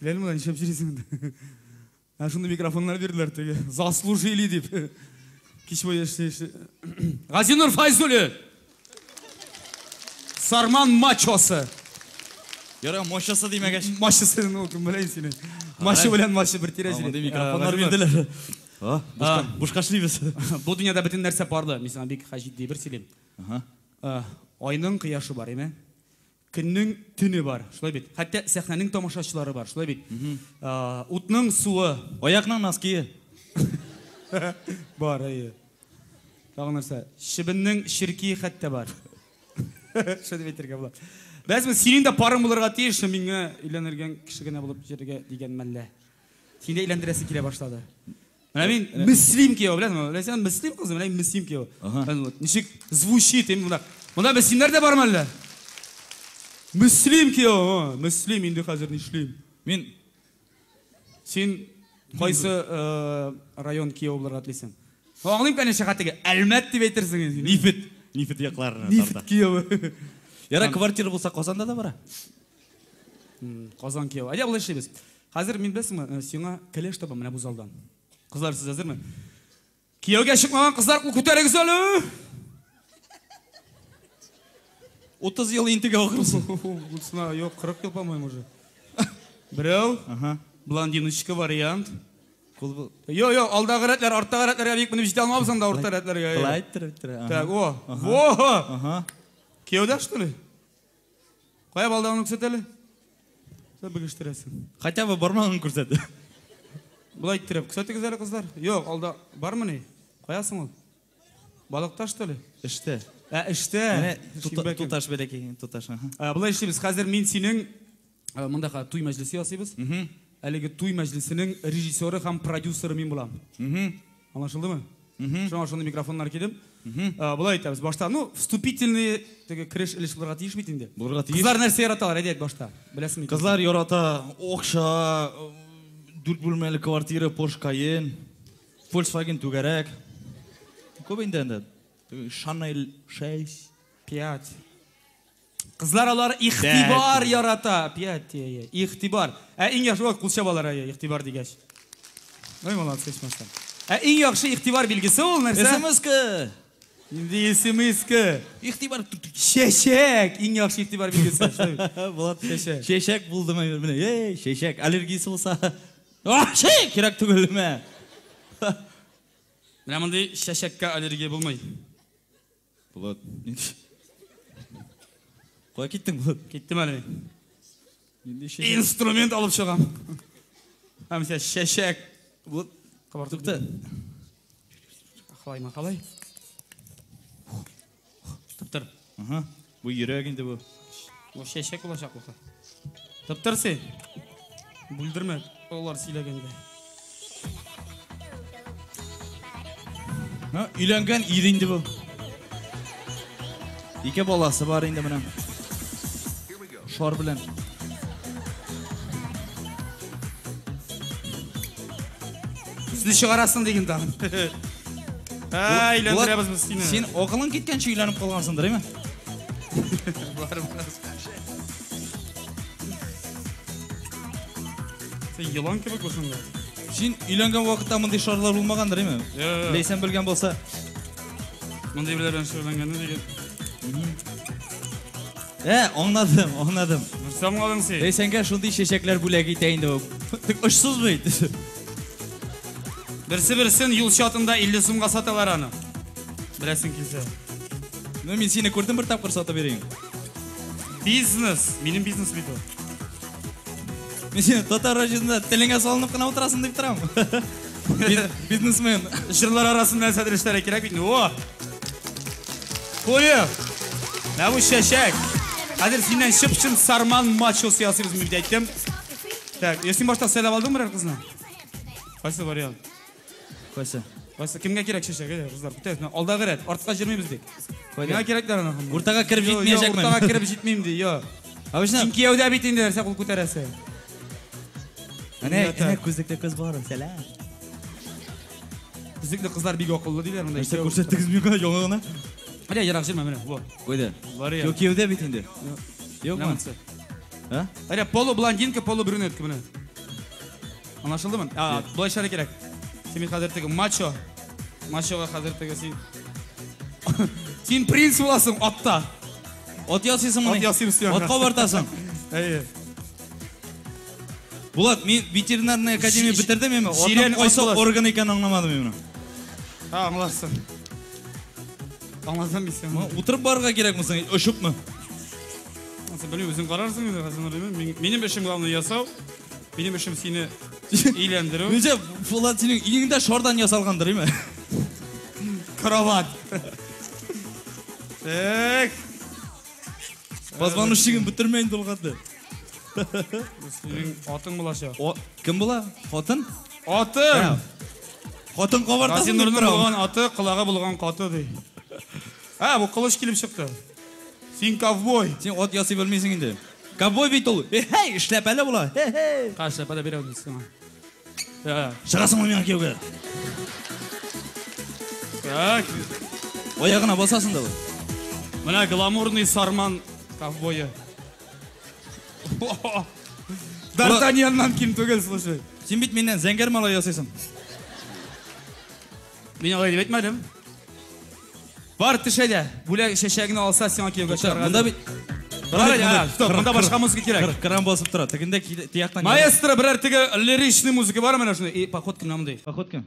Ләл мына ничәп җирисең инде. Ә шундый микрофоннар бирделәр теге. Заслужили дип. Кич буе эшли эшли. Газинур Файзуллин. Сарман мачосы. Яра мачосы димәгәч. Мачосы ну кем белән сине. Мачы белән мачы бер тирә җире. Мондый микрофоннар бирделәр. А, бушка, бушка эшлибез. Бу дөньяда бөтен нәрсә барды. Мин сиңа бик хаҗи ди бер сөйлим. Ага. Айның кояшы бар, име? Көннең төне бар, шулай бит? Хәтта сәхнәнең тамашачылары бар, шулай бит? Утның суы. Аякның ноские. Бар, әйе. Тагын нәрсә? Чебеннең черкие хәтта бар. Шуны дип әйтергә була. Бәзме, синең дә парың булырга тиеш, миңа өйләнергән кеше генә булып йөрергә дигән мәллә. Сине өйләндерәсе килә башлады. Менә мин Мөслим кияү, беләсеңме? Ләйсән Мөслим кызы, менә мин Мөслим кияү. Ничек звучит, эм монда. Монда Мөслимнәр дә бармы әллә? Мөслим кияү, Мөслим инде хәзер нишлим? Мин Син кайсы э, район кияү булырга телисең? Аңлыйм, конечно, хәтеге. Әлмәт дип әйтерсең инде. Нифет, нифет якларына Нифет кияү. Яра квартира булса Казанда да бара. Казан кияү. Әйдә болай эшлибез. Хәзер мин беләсеңме, э, сиңа кәләш табам менә бу залдан. Кызлар, сез әзерме? Кияүгә чыкмаган кызлар кул күтәрегез әле. 30 ел интегә ахрысы. Булсына, юк, 40 ел по-моему уже. Берәү. Ага. Блондиночка вариант. Кул Йо, йо, алдагы рәтләр, арттагы рәтләргә бик менеп җитә алмабыз анда урта рәтләргә. Былай иттер, иттер. Так, о. Во! Ага. Кияүдә что ли? Кая балдагыңны күрсәт әле. Сәб бегештерәсең. Хотя бы бармагын күрсәт. Болай иттереп, күрсәтегез әле кызлар. Юк, алда бармы ни? Кая соң ул? Балыкта что ли? Эштә. Ә, эштә. Менә туташ бәләкәй, туташ. Ә, болай эшлибез. Хәзер мин синең Э, монда хәзер туй мәҗлесе ясыйбыз. Әлеге туй мәҗлесенең режиссеры һәм продюсеры мин булам. Аңлашылдымы? Шуңа шундый микрофоннар кидем. Э, Булай әйтәбез. Башта, ну, вступительный теге кереш өлеш булырга тиеш бит инде. Булырга тиеш. Кызлар нәрсә яраталар, әйдәк башта. Беләсеңме? Кызлар ярата акча, э, дүрт бүлмәле квартира, Porsche Cayenne, Volkswagen түгәрәк. Күп инде инде. Chanel 6, 5. Кызлар алар игътибар ярата. Пять, ие, ие. Игътибар. Ә иң яхшы, ой, кул чабалар, әйе, игътибар дигәч. Ой, молодцы, ичмасам. Ә иң яхшы игътибар билгесе ул нәрсә? Смска. Нинди смска? Игътибар. Чәчәк! Иң яхшы игътибар билгесе. Шулай бит. Булат, Чәчәк. чәчәк булдымы? Менә, эй, чәчәк. Аллергиясе булса, вообще кирәк түгел, мә. Менә мондый чәчәккә аллергия булмый. Булат, ник? Кая киттең, Булат? Киттем әле мин. Нинди шәҗәрә? Инструмент алып чыгам. Һәм сә чәчәк. Булат, Кабартып тукта. Халай махалай. Туктыр. Ага. Бу йөрәк инде бу. Бу чәчәк булачак бу. Тыптыр син. Бүлдермә алар сөйләгәндә. Ну, өйләнгән ир инде бу. Ике баласы бар инде менә. Шар белән. Үзне чыгарасың диген тагын. Ә, өйләндерәбез без сине. Син акылың киткәнче өйләнеп калгансыңдыр, әйме? Бар, бар. Син елан кебек булсың да. Син өйләнгән вакытта мондый шарлар булмагандыр, әйме? Э. Ләйсән белгән булса. Мондый белән белән шөгыльләнгәнне диген. Ә, аңладым, аңладым. Нәрсә аңладың син? Ләйсәнгә шундый чәчәкләр бүләк итә инде ул. Тик очсыз бит. Берсе берсен юл чатында 50 сумга саталар аны. Беләсең килсә. Ну мин сине күрдем бер тапкыр сатып йөрим. Бизнес, минем бизнес бит ул. Мин сине татар районында телеңә салынып кына утырасың дип торам. Бизнесмен. Җырлар арасында нәрсә дәрешләре кирәк бит. О! Куе! Нәвү чәчәк! Хәзер синнән чып-чын сарман мачос ясыйбыз, мин әйттем. Так, я син башта сайлап алдың берәр кызны? Кайсы вариант? Кайсы? Кайсы кемгә кирәк чәчәге, кызлар? Көтәбез. Менә Алдагы рәт, артка җөрмибез бит. Миңа кирәкләр аны. ханымнар. Уртага кереп Йо, йо, җитмәячәкмен. Уртага кереп җитмим ди, йо. Обычно, Син кияүдә бит инде нәрсә кул күтәрәсе. әнә, Миңа так. әнә күзлекле кыз бар, сәлам. Күзлекле кызлар бик акыллы диләр монда. Нәрсә күрсәттегез миңа яңа гына? Менә ерак җөрмә менә. Во. Куйды. Вариант. Юк, кияүдә бит инде. Юкмы? Нәмәсе? Ә? Әйдә, полублондинка, полубрюнетка менә. Анашылдымы? А, былайша да кирәк. Син бит хәзер теге мачо. Мачога хәзер теге син. Син принц буласың атта. Ат ясыйсың моны. Ат ясыйм син. Ат кабартасың. Әйе. Булат, мин ветеринарная академия бетердем мин. Сирен кайсы орган икән аңламадым мин моны. Ха, аңларсың. Аңласам мин сине. Утырып барырга кирәкме соң? Очыпмы? Белмим, үзең карарсың инде, Хәсән Нуриевна. Мин- Минем эшем главное ясау. Минем эшем сине өйләндерү. Ничә Булат синең өеңдә шардан ясалгандыр, име? Кровать. Так. Позвоночнигын бетермә инде ул хәтле. Синең атың булачак. О, кем була? Хатын? Атың! Хатын кабартасың. Хәсән Нуриевна булган аты, колагы булган каты ди. А, бу кылыч килеп чыкты. Син ковбой! Син ат ясый белмисең инде. Ковбой бит ул. Эй, эшләпәле була. Эй. Каш эшләпәле бирәм мин сиңа. Э. Чыгасыңмы миңа кияүгә? Так. Аягына басасың да. Менә гламурный сарман ковбое. Д'Артаньяннан ким түгел, слушай. Син бит миннән зәңгәр малай ясыйсың. Мин алай дип әйтмәдем. Бар төшә дә, бүләк чәчәгеңне алса, сиңа кияүгә чыгарга. Монда бит Бар әле, а, стоп, монда башка музыка кирәк. Кран басып тора. Тегендә тияктан. Маэстро, берәр теге лиричный музыка бар менә шуны? И, поход кем намды? Поход кем?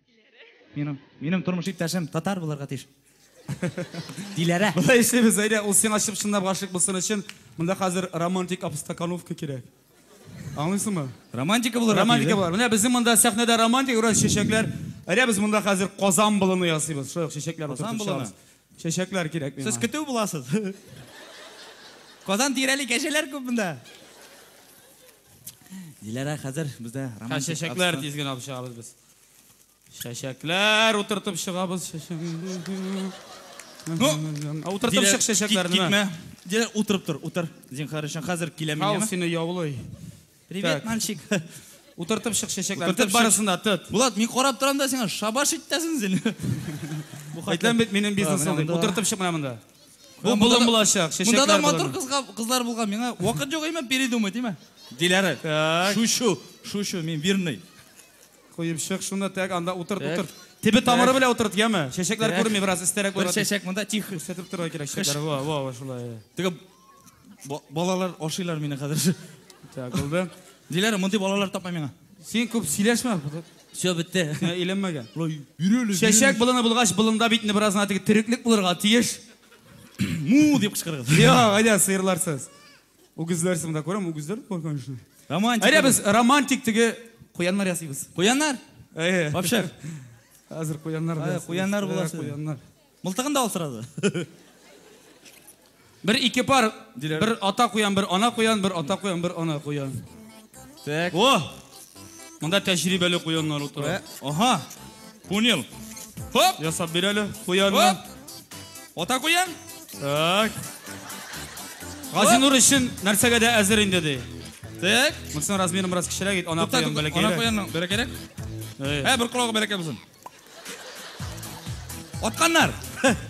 Минем, минем тормыш иптәшем татар булырга тиеш. Диләрә. Болай эшлибез, әйдә, ул сиңа чып-чынлап гашыйк булсын өчен, монда хәзер романтик обстакановка кирәк. Аңлыйсыңмы? Романтика булырга тиеш. Романтика булыр. Менә безнең монда сәхнәдә романтик бераз чәчәкләр. Әйдә, без монда хәзер казан болыны ясыйбыз. Шулай ук чәчәкләр утыртып чыгабыз. Чәчәкләр кирәк миңа. Сез көтү буласыз. Казан тирәли кәҗәләр күп монда. Диләрә, хәзер бездә романтик обстакановка. Чәчәкләр тиз генә алып чыгабыз без. Чәчәкләр утыртып чыгабыз чәчәк. Ну, утыртып чык чәчәкләрне. Китмә. Дилә утырып тор, утыр. Зинхар өчен хәзер киләм мин. Хау сине яулый. Привет, мальчик. Утыртып чык чәчәкләрне. Тот барысын да, тот. Булат, мин карап торам да сиңа шабаш итәсен син. Бу хәтлән бит минем бизнесым дип. Утыртып чык менә монда. Бу булын булачак, чәчәкләр. Монда да матур кызга кызлар булган. Миңа вакыт юк име, передумай, диме? Диләре. Так. Шушу, шушу, мин верный. Куеп чык шуны, так, анда утырт, Так. утырт. Тибе тамыры Так. белән утырт, яме. Чәчәкләр Так. күренми, бераз өстәрәк Бер буйга. чәчәк монда тихо. Күрсәтеп торырга кирәк чәчәкләр. Во, во, во, шулай. Теге ба- балалар ашыйлар мине хәзер. Так, булды. Диләр, мондый балалар тапма миңа. Син күп сөйләшмә. Все, бетте. Ә, Иленмәгән. Лой, биреле. Чәчәк болыны булгач, болында бит инде бераз гына теге тереклек булырга тиеш. му дип кычкырыгыз. Йо, әйдә, сыерларсыз. Үгезләр соң да күрәм, үгезләр дә бар, конечно. Романтик. Әйдә без романтик теге куяннар ясыйбыз. Куяннар? Әйе. Вообще. Хәзер куяннар да. Куяннар буласы. Куяннар. Мылтыгын да алсырады. Бер ике пар, бер ата куян, бер ана куян, бер ата куян, бер ана куян. Так. О! Монда тәҗрибәле куяннар утыра. Ага. Понял. Хоп! Ясап бир әле куянны. Ата куян? Так. Газинур өчен нәрсәгә дә әзер инде ди. Так. Монсын размерын бераз кечерәк ит, ана куян бәләкәй. Ана куянның бәләкәйрәк. Ә, бер колагы бәләкәй булсын. Атканнар.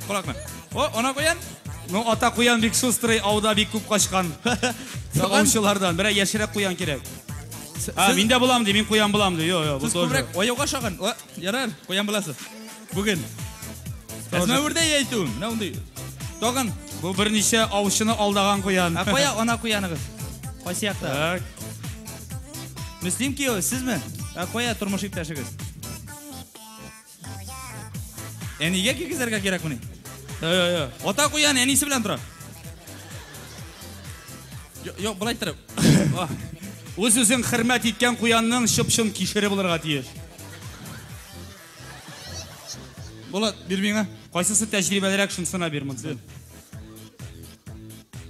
Кулакны. О, ана куян. Ну, ата куян бик шустрый, ауда бик күп качкан. Сагаучылардан берәр яшерәк куян кирәк. А, мин дә булам ди, мин куян булам ди. Йо, йо, бу тоже. Күбрәк аяуга шагын. О, ярар, куян буласыз. Бүген. Әзмә үрдә яйту. Менә ундый. Тагын. Бу берничә аучыны алдаган куян. Ә кая ана куяныгыз? Кайсы якта? Так. Мөслим кияү, сезме? Ә кая тормыш иптәшегез? Әнигә кигезергә кирәк мени? Йо-йо-йо. Ата куян әнисе белән тора. Йо, былай торып. Үз үзен хөрмәт иткән куянның чып-чын кишере булырга тиеш. Булат, бир миңа. Кайсысы тәҗрибәлерәк, шунсына бир монсын.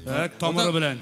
Так, тамыры белән.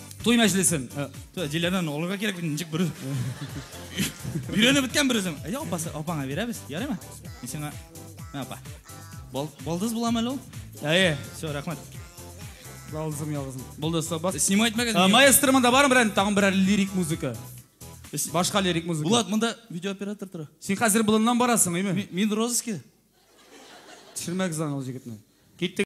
Туй мәҗлесен. Диләрдән алырга кирәк бит, ничек бер. Өйрәнеп беткән бер үзем. Әйдә апасы, апаңа бирәбез, ярыймы? Мин сиңа. Мә апа. Балдыз буламы әле ул? Әйе, все, рәхмәт. Балдызым, ялгызым. Булды, сабас. Снимать мәгән. Э, маэстро монда бармы берәр, тагын берәр лирик музыка? Башка лирик музыка. Булат, монда видеооператор тора. Син хәзер болыннан барасың, әйме? Мин розыски. Төшермәгез аны ул җегетне. Киттек.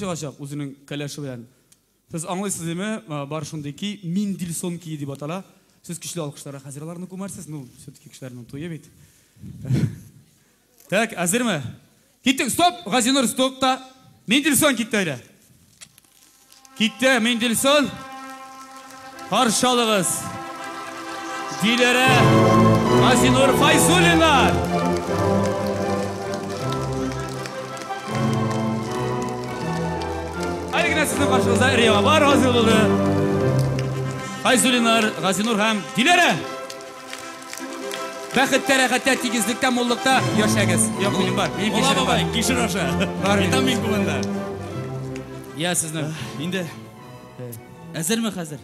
чыгачак үзенең кәләше белән. Сез аңлыйсыз диме? Бар шундый ки, Миндильсон кие дип атала. Сез көчле алкышларга хәзер аларны күмәрсез, ну, все-таки кешеләрнең туе бит. Так, әзерме? Киттек, стоп! Газинур, стоп та. Мендельсон китте әле. Китте, Мендельсон. Каршалыгыз. Диләрә Газинур Файзулина. Әле генә сезнең каршыгызда Риябар Газинур. Файзулинар, Газинур һәм Диләрә. Бәхеттә, рәхәттә, тигезлектә, муллыкта яшәгез. Як минем бар. Минем Мулла кишер бабай, бар. кишер аша. Бар минем. Витамин кулында. Я сезнең. Инде әзерме хәзер?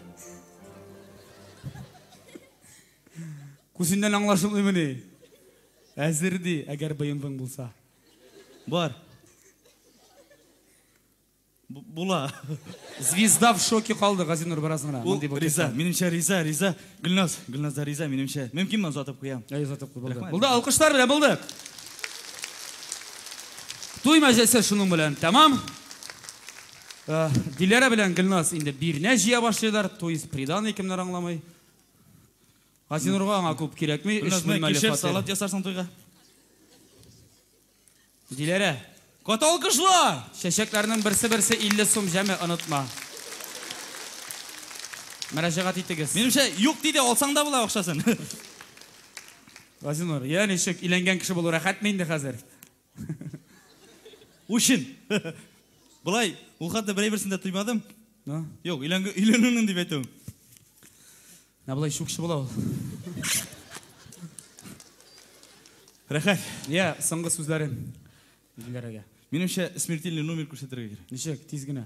Күзеннән аңлашылмыймы ни? Әзер ди, әгәр быендың булса. Бар. Була. Звезда в шоке калды, Газинур бераз гына. Ул риза, минемчә риза, риза. Гөлназ, Гөлназ да риза, минемчә. Мөмкинме озатып куям? Әй, озатып куй, булды. Булды, алкышлар белән булдык. Туй мәҗәсе шуның белән тәмам. Э, Диләрә белән Гөлназ инде бирнә җыя башлыйлар, то есть приданный кемнәр аңламый. Газинурга аңа күп кирәкми, өч бүлмәле фатир. Салат ясарсың туйга. Диләрә. Каты алкышлар! Чәчәкләрнең берсе-берсе 50 сум җәме, онытма. Мөрәҗәгать итегез. Минемчә, юк ди дә, алсаң да була акчасын. Газинур, йә ничек, өйләнгән кеше булу рәхәтме инде хәзер? Үчен. Болай, ул хәтле берәйберсен дә тоймадым. Ну? Юк, өйләнгән, өйләнүнең дип әйтүем. Менә болай чукчы була ул. Рәхәт. Я, соңгы сүзләре Диләрәгә. Минемчә, смертельный номер күрсәтергә кирәк. Ничек, тиз генә.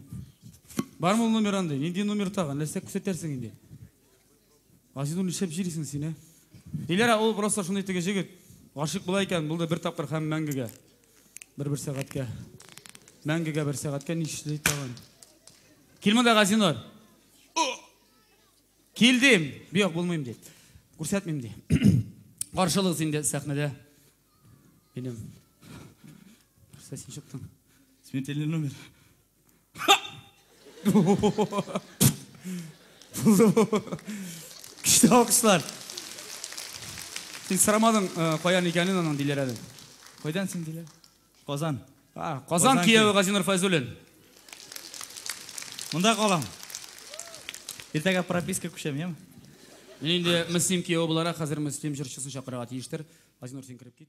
Бармы ул номер андый? Нинди номер тагын? Нәрсә күрсәтәрсең инде? Азизул, нишләп җирисең син, ә? Диләрә, ул просто шундый теге җегет. Гашык була икән, булды бер тапкыр һәм мәңгегә. Бер-бер сәгатькә. Мәңгегә бер сәгатькә нишли тагын. Кил монда, Газинур. Килдем. Бияк булмыйм ди. Күрсәтмим ди. Каршылыгыз инде сәхнәдә. Минем. Нәрсә син чыктың? Смертельный номер. Күчте алкышлар. Син сырамадың, э, каян икәнен аның диләр әле. Кайдан син диләр? Казан. Казан кияве Газинур Файзуллин. Монда калам. Иртәгә прописка күчәм, яме? Мин инде Мөслим кияве буларак хәзер Мөслим җырчысын чакырырга тиештер. Газинур, син кереп кит.